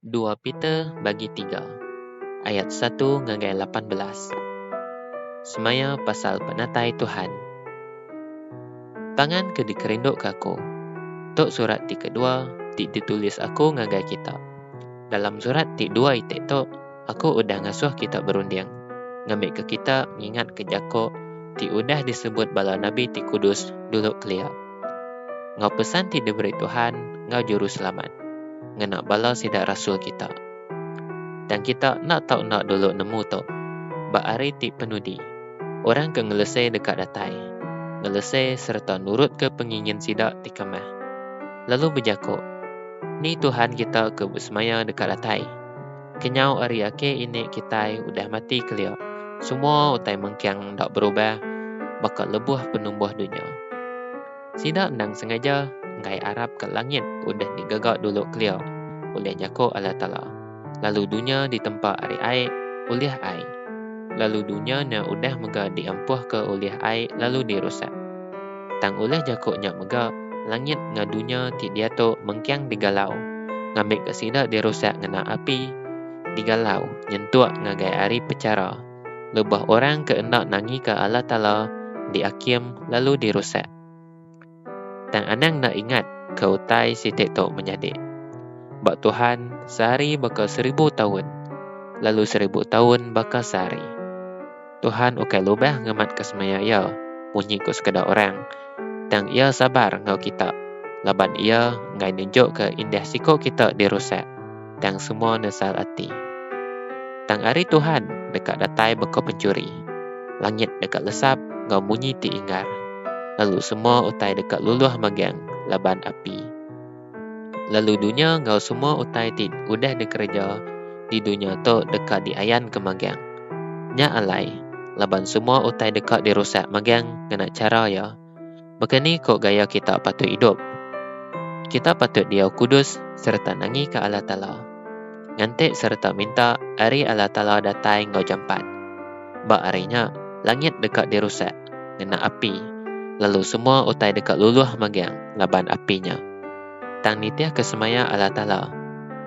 Dua Peter bagi tiga ayat satu ngagai lapan belas semaya pasal penatai Tuhan. Pangan ke dikerinduka aku, tu surat ti kedua ti ditulis aku ngagai kita. Dalam surat ti dua iti tu, aku udah ngasuh kita berunding, ngambika kita ngingatka jaku ti udah disebut bala nabi ti kudus dulu kelia. enggau pesan ti diberi Tuhan enggau Juruselamat ngena bala sida rasul kita. Tang kita enda tau enda dulu nemu tu, ba hari ti penudi, orang ke ngelese deka datai, ngelese sereta nurutka pengingin sida ti kamah, lalu bejaku, Ni Tuhan kita ke besemaya deka datai! Kenyau ari ake ini kitai udah mati kelia. Semua utai mengkang enda berubah baka lebuh penumbuh dunya. Sida endang sengaja enggai arap ka langit udah digaga dulu kelia ulih jako Allah Taala. Lalu dunya ditempa ari ai ulih ai. Lalu dunya nya udah mega diampuh ka ulih ai lalu dirusak. Tang ulih jaku nya mega, langit enggau dunya ti diatu mengking digalau, ngambika sida dirusak ngena api. Digalau, nyentuk ngagai hari pechara. Lebuh orang ke enda nangika Allah Taala diakim lalu dirusak. Tang anang enda ingat ke utai siti tu menyadi. Ba Tuhan, sehari baka seribu taun, lalu seribu taun baka sehari. Tuhan ukai lubah ngematka semaya Iya munyi ku sekeda orang, tang Iya sabar enggau kita laban Iya enggai nunjukka indah siku kita dirusak tang semua nesal ati. Tang ari Tuhan deka datai baka penchuri, langit deka lesap enggau munyi ti ingar, lalu semua utai deka luluh magang laban api. lalu dunya enggau semua utai ti udah dikereja di dunya tu deka diayanka magang. Nya alai, laban semua utai deka dirusak magang ngena chara iya. Baka ni ko gaya kita patut idup? Kita patut diau kudus sereta nangika Allah Taala. Nganti sereta minta ari Allah Taala datai enggau jampat. Ba hari nya, langit deka dirusak. ngena api lalu semua utai deka luluh megang laban api nya. Tang nitihka semaya Allah Taala,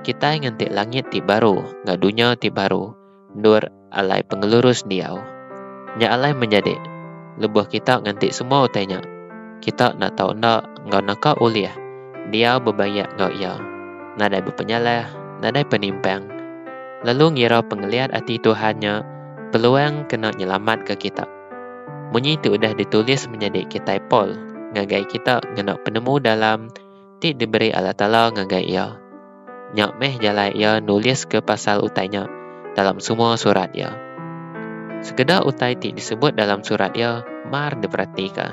kitai nganti langit ti baru enggau dunya ti baru endur alai pengelurus diau. Nya alai menyadi, lebuh kita nganti semua utai nya, kita enda tau enda enggau naka ulih diau bebayak enggau Iya, nadai bepenyalah, nadai penimpang, lalu ngira pengeliat ati Tuhan nya peluang kena nyelamatka kita. Munyi ti udah ditulis menyadi kitai Paul ngagai kita ngena penemu dalam ti diberi Allah Taala ngagai iya. Nya meh jalai iya nuliska pasal utai nya dalam semua surat iya. Sekeda utai ti disebut dalam surat iya mar diperatika,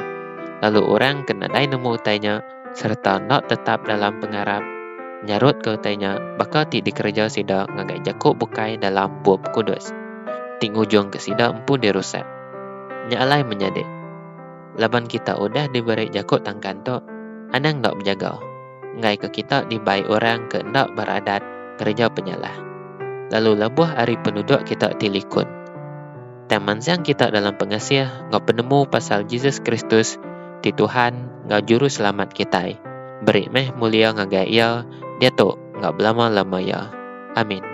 lalu orang ke nadai nemu utai nya sereta enda tetap dalam pengarap nyarutka utai nya baka ti dikereja sida ngagai jaku bukai dalam Bup Kudus, ti ngujungka sida empu dirusak. Nya alai menyadi, laban kita udah diberi jaku tangkan tu, anang enda bejaga, enggaika kita dibai orang ke enda beradat kereja penyalah, lalu lebuh ari penuduk kita ti likun. tang mansang kita dalam pengasih enggau penemu pasal Jesus Kristus ti Tuhan enggau Juru Selamat kitai. Beri meh mulia ngagai Iya diatu enggau belama-lamaya. Amin.